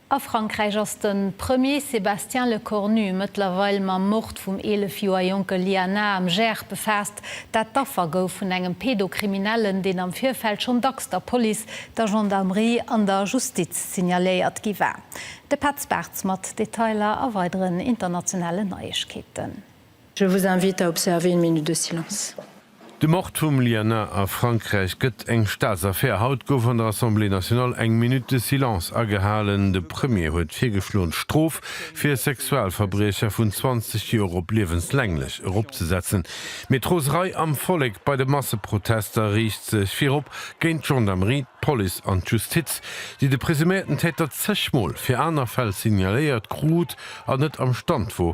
A Frankräich ass de Premier Sébastien Lecornu mëttlerweil mam Mord vum 11 Joer jonke Lianah am Gers befaasst, dat d'Affer gouf vun engem Pedokriminellen, deen am Virfeld schonn dacks der Police, der Gendarmerie an der Justiz signaléiert gi war. De Petz Bartz mat Detailer a weideren internationalen Neiegkeeten. Je vous invite à observer une minute de silence. De Mord vum Liana a Frankräich gëtt eng Staatsaffär. Haut gouf an der Assemblée nationale eng Minute de silence agehalen. De Premier huet d'virgeschloen d'Strof fir Sexualverbriecher vun 20 Joer op liewenslänglech eropzesetzen. Mee d'Roserei am Vollek bei de Masseprotester riicht sech virop géint d'Gendarmerie, d'Police an d'Justiz, déi de presuméierten Täter zechmol fir aner Fäll signaléiert krut an net am Stand wor,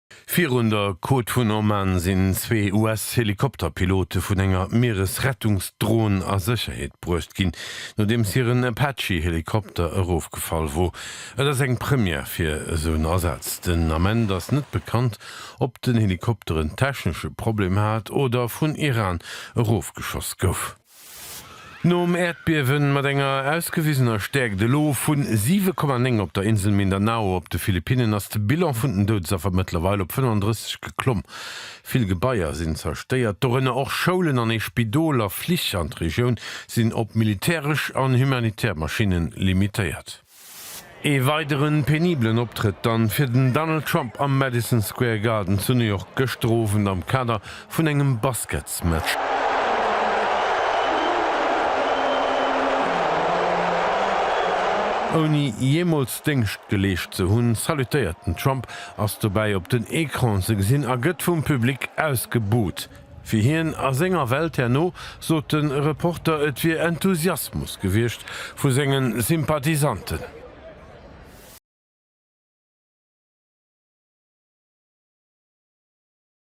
Virun der Côte vun Oman sinn zwee US-Helikopterpilote vun enger Mieresrettungsdron a Sécherheet bruecht ginn, nodeems hiren Apache-Helikopter erofgefall wor. Et ass eng Première fir esou en Asaz. Den Ament ass net bekannt, ob den Helikopter en technesche Problem hat oder vun Iran erofgeschoss gouf. Nom Äerdbiewe mat enger ausgewisener Stäerkt elo vun 7,9 op der Insel Mindanao op de Philippinnen ass de Bilan vun den Doudesaffer mëttlerweil op 35 geklomm. Vill Gebaier sinn zerstéiert, dorënner och Schoulen an ee Spidol, a Flich an d'Regioun sinn op militäresch an humanitär Maschinne limitéiert. Ee weidere penibelen Optrëtt dann fir den Donald Trump am Madison Square Garden zu New York gëschter Owend am Kader vun engem Basketsmatch. Ouni jeemools Déngscht geleescht ze hunn, salutéiert den Trump, ass dobäi op den Ecran ze gesinn a gëtt vum Public ausgebuht. Fir hien a senger Welt herno, sot de Reporter, et wier Enthusiasmus gewiescht vu senge Sympathisanten.